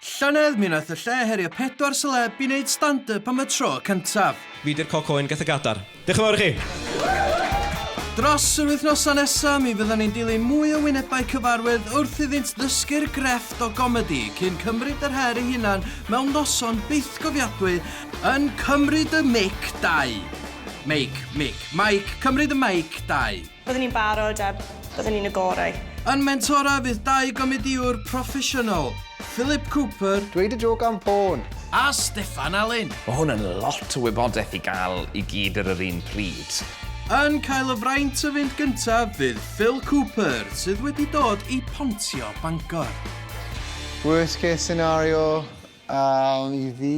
Llynedd mi nath y lle herio pedwar seleb i neud stand up am y tro cyntaf. Fi di'r coc oen geth y gadar. Diolch yn fawr i chi! Dros yr wythnosa nesa mi fyddan ni'n dilyn mwy o wynebau cyfarwydd wrth iddynt ddysgu'r grefft o gomedi cyn cymryd yr her ei hunan mewn noson bythgofiadwy yn Cymryd y Mic 2. Meic, mic, maic, Cymryd y Meic 2. Byddwn ni'n barod a byddwn ni'n y gorau. Yn mentora fydd dau gomedïwr proffesiynol, Philip Cooper. Dweud y jôc am ffôn! A Steffan Alun. Mae hwn yn lot o wybodaeth i gael i gyd ar yr un pryd. Yn cael y fraint o fynd gyntaf fydd Phil Cooper, sydd wedi dod i Pontio, Bangor. Worst case scenario i fi.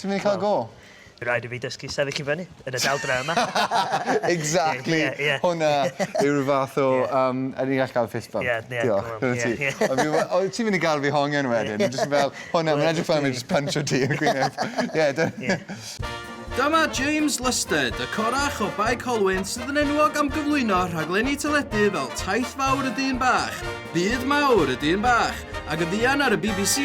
Ti'n mynd i cael go? By' raid i fi dysgu sefyll i fyny yn y daldra yma. Exactly. Ie ie. Hwnna yw rhyw fath o yym ydyn ni'n gallu ca'l fist bump? Ie ie. Diolch. Go on. Ie ie. Ond fi we- o ti'n mynd i ga'l fi hongian wedyn. Ie. Fi jyst yn fel hwnna ma'n edrych fel fi jyst pyntio ti yn y gwyneb. Ie dy- Ie. Dyma James Lusted, y corach o Bae Colwyn sydd yn enwog am gyflwyno rhaglenni teledu fel Taith Fawr y Dyn Bach, Byd Mawr y Dyn Bach ac yn fuan ar y bbc,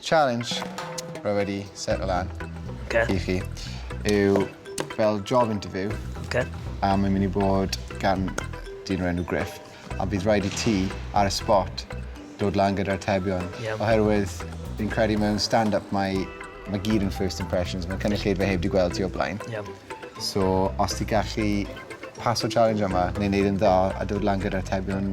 Challenge rwy wedi setio lan i chi yw fel job interview a mae'n mynd i bod gan dyn o'r enw Griff a bydd rhaid i ti ar y spot dod lan gyda'r atebion oherwydd fi'n credu mewn stand-up mae mae gyd yn first impressions, mae cynulleidfa heb di gweld ti o blaen. Yep. So, os ti gallu paso challenge yma, neu wneud yn dda a dod lan gyda'r atebion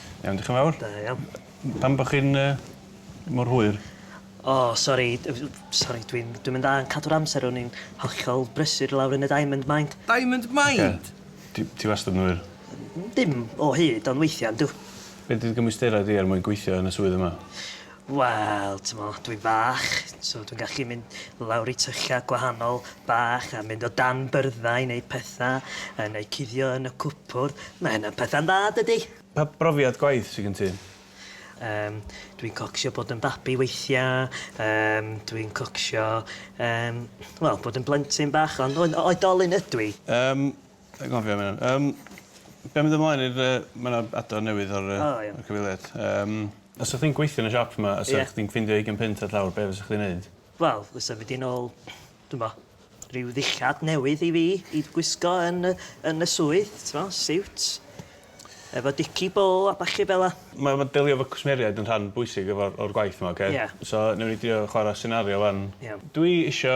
Iawn, diolch yn fawr. Da iawn. Pam bod chi'n yy mor hwyr? O, sori, sori, dwi'n dwi'n mynd dda yn cadw'r amser, o'n i'n hollol brysur lawr yn y Diamond Mind. Diamond Mind? Ti ti wastad yn hwyr. Dim o hyd, ond weithiau yndw. Be' 'di dy gymwysterau di er mwyn gweithio yn y swydd yma? Wel, t'mo, dwi fach, so dwi'n gallu mynd lawr i tyllau gwahanol bach a mynd o dan byrddau i wneud petha, yy neu cuddio yn y cwpwrdd. Mae hynna'n petha'n dda, dydi? Pa brofiad gwaith sy gen ti? Yym, dwi'n cocsio bod yn babi weithia, yym, dwi'n cocsio, yym, wel, bod yn blentyn bach, ond oe- oedolyn ydw i. Yym, Dwi'n gofio myn 'on. Yym be' am mynd ymlaen i'r yy ma' 'na adar newydd ar y... O iawn. ...ar cyfeiliad. Yym os sa chdi'n gweithio yn y siop 'ma a sa... Ie. ...chdi'n ffindio ugain punt ar llawr be' fysa chdi'n neud? Wel fysa mynd i nôl dw'mbo ryw ddillad newydd i fi i gwisgo yn y yn y swydd t'mo' siwt efo dici bô a ballu fel 'a. Ma' ma' delio efo cwsmeriaid yn rhan bwysig efo'r o'r gwaith 'ma oce? Ie. So newn ni drio chwara senario 'wan. Iawn. Dwi isio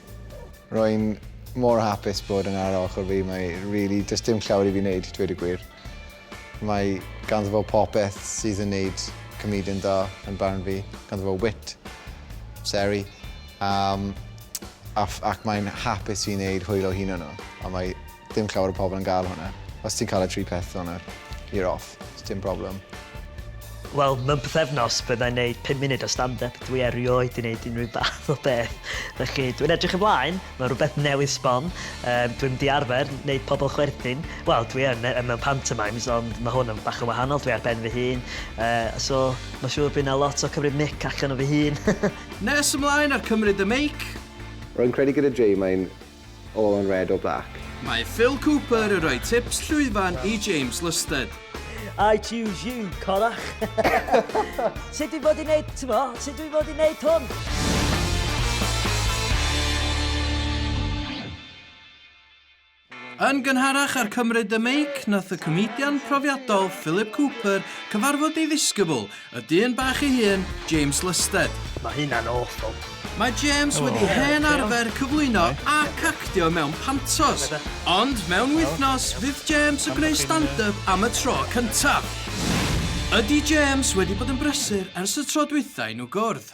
Rwy'n mor hapus bod yn ar ochr fi, mae really, does dim llawer i fi wneud, dweud y gwir. Mae ganddo fo popeth sydd yn neud comedian da yn barn fi. Ganddo fo wit, seri, um, ac mae'n hapus i wneud hwyl o hunan nhw. A mae Dim llawer o pobl yn gael hwnna. Os ti'n cael y tri peth hwnna, you're off. It's dim problem. Wel, mewn pethefnos, byddai'n neud 5 munud o stand-up. Dwi erioed i wneud unrhyw bath o beth. Felly, dwi'n edrych ymlaen. Mae rhywbeth newydd sbon. Um, dwi'n di arfer wneud pobl chwerthin. Wel, dwi yn mewn pantomimes, ond mae hwn yn bach yn wahanol. Dwi ar ben fy hun. Uh, so, mae siŵr bydd na lot o cymryd mic allan o fy hun. Nes ymlaen ar cymryd y meic. Rwy'n credu gyda Jay mae'n All on red or black. Mae Phil Cooper yn rhoi tips llwyfan i James Lusted. I choose you, corach. sut dwi'n fod i wneud, ti'n mo, sut dwi'n fod i wneud hwn? Yn gynharach ar Cymryd y Meic, nath y comedian profiadol Philip Cooper cyfarfod ei ddisgybl, Y dyn bach ei hun, James Lusted. Mae hynna'n awful. Mae James wedi hen arfer cyflwyno ac actio mewn pantos, ond mewn wythnos fydd James yn gwneud stand-up am y tro cyntaf. Ydy James wedi bod yn brysur ers y tro dwytha i nhw gwrdd?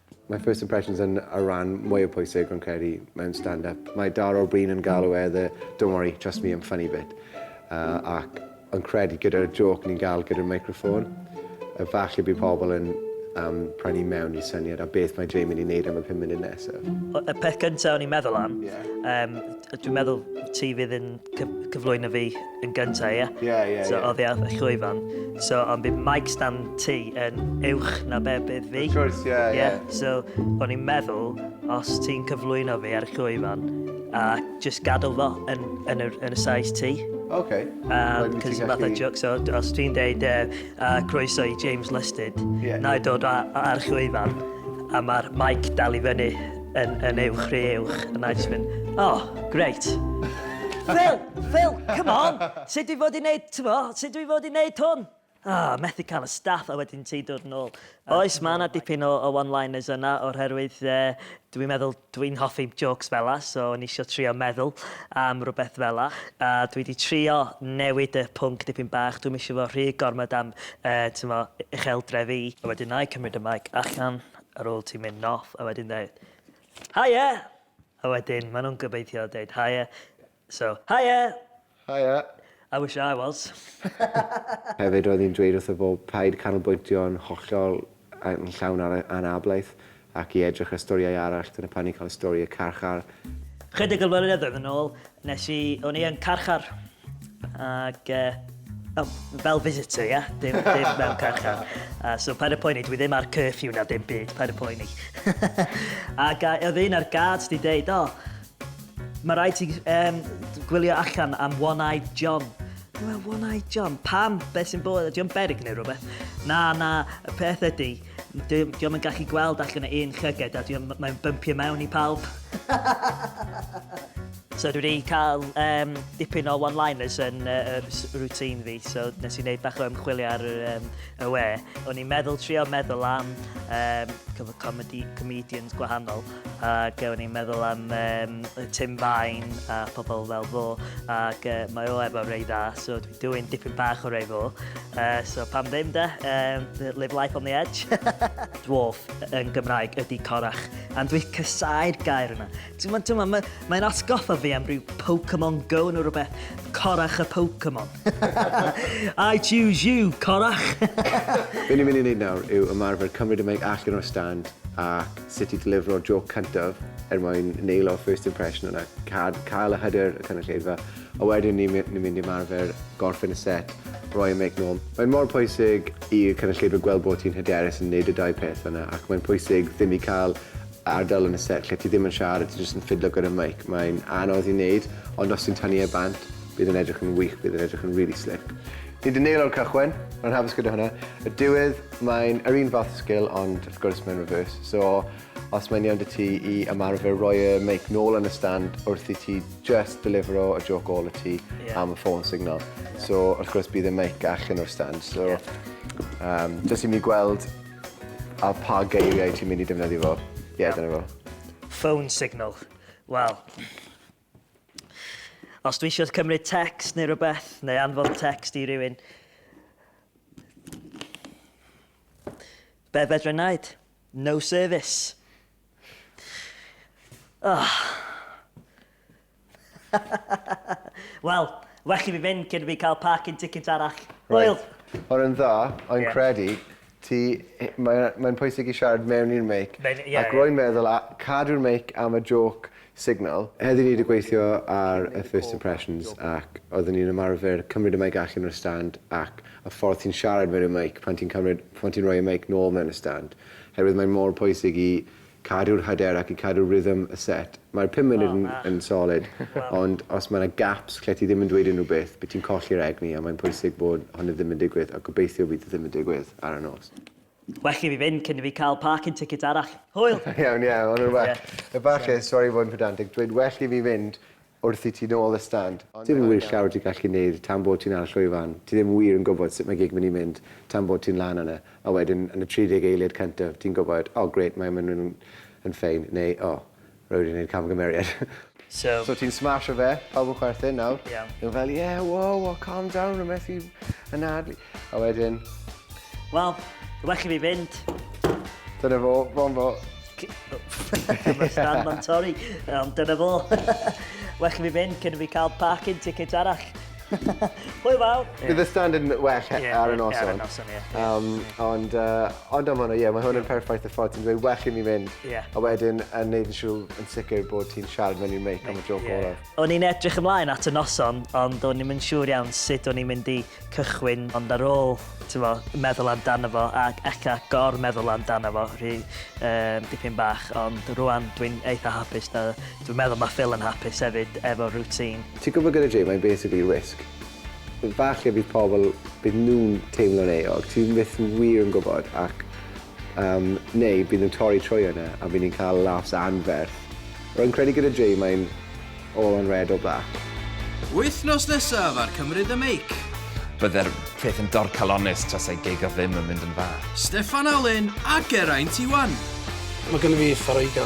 Mae first impressions yn y rhan mwyaf pwysig rwy'n credu mewn stand-up. Mae Dara o Bryn yn galw e the don't worry, trust me, I'm funny bit. Uh, ac yn credu gyda'r joc ni'n gael gyda'r microffôn, efallai bydd pobl yn um, prynu mewn i syniad a beth mae Jay mynd i wneud am y 5 munud nesaf. Y peth gyntaf o'n i'n meddwl am, yeah. um, dwi'n meddwl ti fydd yn cyflwyno fi yn gyntaf, ie? Ie, ie, ie. So, oedd e'n llwyfan. So, ond bydd mic stand ti yn uwch na be bydd fi. Of course, ie, ie. So, o'n i'n meddwl, os ti'n cyflwyno fi ar y llwyfan, a just gadael fo yn, yn, y, yn y size ti. OK. Um, Cos fath o joc, so os ti'n deud uh, uh, croeso i James Listed, yeah. na i dod ar llwyfan, a mae'r mic dal i fyny Yn, yn uwch, rhy uwch, and I just mynd, oh, great. Phil, Phil, come on, sut dwi fod i wneud, ti'n mo, sut dwi fod i wneud hwn? oh, methu cael y staff a wedyn ti dod yn ôl. Oes, mae yna dipyn o, o one-liners yna o'r herwydd e, dwi'n meddwl dwi'n hoffi jokes fel la, so o'n eisiau trio meddwl am rhywbeth fel la. A dwi wedi trio newid y pwnc dipyn bach, dwi'n eisiau fo rhy gormod am e, mo, eich eldre fi. A wedyn na i cymryd y mic allan Ar ôl ti mynd off a wedyn dweud Haia! A wedyn maen nhw'n gobeithio dweud Haia. So, Haia! Haia! I wish I was. Hefyd roedd hi'n dweud wrtho fo paid canolbwyntio'n hollol yn llawn ar ei anablaeth ac i edrych ar storïau arall, dyna pan ni'n cael stori y carchar. Chydig o flynyddoedd yn ôl, nes i, o'n i yn carchar. Ac, e, oh, fel visitor, ia? Yeah? Dim, dim mewn carchar. Uh, so, paid y poeni, dwi ddim ar curfew na dim byd, paid y poeni. Ac uh, oedd un ar guards di deud, o, oh, mae rhaid ti um, gwylio allan am One-Eyed John. Dwi'n One-Eyed John, pam? Be sy'n bod? Dwi'n berig neu rhywbeth? Na, na, y peth ydy, dwi'n yn gallu gweld allan o un llyged a dwi'n mae'n bympio mewn i pawb. So dwi wedi cael um, dipyn o one-liners yn uh, routine fi, so nes i wneud bach o ymchwilio ar um, y we. O'n i'n meddwl trio meddwl am um, comedy, comedians gwahanol, ac o'n i'n meddwl am um, Tim Vine a pobl fel fo, ac uh, mae o efo rei dda, so dwi'n dweud dipyn bach o rei fo. Uh, so pam ddim da, um, live life on the edge. Dwarf yn Gymraeg ydy corach, and dwi'n cysau'r gair yna. T'mod, t'mod, mae, mae'n atgoffa fi am rhyw Pokemon Go neu rhywbeth. Corach y Pokemon. I choose you, corach! Be ni'n mynd i wneud nawr yw ymarfer cymryd y meic allan o'r stand a sut i ddelifro'r joc cyntaf er mwyn neilo first impression yna, cad, cael y hyder y cynulleidfa, a wedyn ni'n ni, ni mynd i ymarfer gorffen y set, roi y meic nôl. Mae'n mor pwysig i'r cynulleidfa gweld bod ti'n hyderus yn neud y dau peth yna ac mae'n pwysig ddim i cael ardal yn y set lle ti ddim yn siarad, ti jyst yn ffidlo gyda mic, mae'n anodd i wneud, ond os ti'n tynnu e bant, bydd yn edrych yn wych, bydd yn edrych yn really slick. Ni di neilo'r cychwyn, rwy'n hapus gyda hwnna. Y diwedd, mae'n yr un fath sgil, ond wrth gwrs mae'n reverse. So, os mae'n iawn dy ti i ymarfer roi y mic nôl yn y stand wrth i ti just delifero y joc ôl y ti yeah. am y ffôn signal. So, wrth gwrs bydd y mic allan o'r stand. So, um, jyst i mi gweld A pa geiriau ti'n mynd i defnyddio fo? Ie, dyna fo. Phone signal. Wel, os dwi eisiau cymryd text neu rhywbeth, neu anfon text i rywun, be fedra i wneud? No service. Oh. Wel, well i fi fynd cyn i fi cael parking ticket arall. Hwyl! Reit. Hwn yn dda, ond credu ti, mae, mae'n pwysig i siarad mewn i'r meic, ac rwy'n meddwl a, cadw'r meic am y jôc signal. Heddi ni 'di gweithio ar y first impressions ac oeddwn i'n ymarfer cymryd y meic allan o'r stand ac y ffordd ti'n siarad mewn i'r meic pan ti'n cymryd, pan ti'n rhoi y meic nôl mewn y stand, herwydd mae'n mor pwysig i cadw'r hyder ac i cadw rhythm y set. Mae'r pum munud yn yn solid, ond os mae 'na gaps lle ti ddim yn dweud unrhyw beth, bydd ti'n colli'r egni a mae'n pwysig bod hynny ddim yn digwydd, a gobeithio bydd e ddim yn digwydd ar y nos. Well i fi fynd cyn i fi cael parking ticket arall. Hwyl! Iawn, ie, ma' hwnna'n well. Efallai, sori i fod yn pedantig, dweud well i fi fynd Wrth i ti nôl y stand. Ti ddim wir siawr ti gallu neud tan bod ti'n ar y llwyfan, ti ddim wir yn gwbod sut mae gig mynd i mynd tan bod ti'n lan yna, a wedyn yn y 30 eiliad cyntaf ti'n gwbod oh great mae mynd yn yn ffein neu oh rwy wedi neud camgymeriad. So. So ti'n smasho fe, pawb yn chwerthin nawr. Ie. Nhw fel yeah wow oh calm down rwy methu anadlu. A wedyn Wel, well i fi fynd. Dyna fo, fo'n fo. Mae Stan ma'n torri, ond dyna fo. well i fi fynd cyn fi cael parking ticket arall. Hwyl fawr. Bydd y stand yn well yeah, ar y noson. Ar y noson, ie. Yeah. Um, ond, uh, ond am hwnna, ie, yeah, mae hwn yn perffaith y ffordd ti'n dweud well i mi fynd. Yeah. A wedyn yn neud yn siŵr yn sicr bod ti'n siarad mewn i'r meic am y joc yeah. olaf. O'n i'n edrych ymlaen at y noson, ond o'n i'n mynd siŵr iawn sut o'n i'n mynd i cychwyn ond ar ôl t'mo' meddwl amdano fo ac ella gor-meddwl amdano fo rhy yym dipyn bach ond rŵan dwi'n eitha hapus da- dwi'n meddwl ma' Phil yn hapus hefyd efo routine. Ti'n gwybod gyda Jay mae'n basically wisg. Falle bydd pobl, bydd nhw'n teimlo'n euog, ti byth wir yn gwybod ac Yym, neu bydden nhw'n torri trwy hwnna a bydden ni'n cael laughs anferth. Rwy'n credu gyda Jay mae'n all on red or black. Wythnos nesaf ar Cymru The Make. Bydde'r peth yn dorcalonnus tasai gig o ddim yn mynd yn dda. Steffan Alun a Geraint Iwan. Mae gennym fi Fareiga.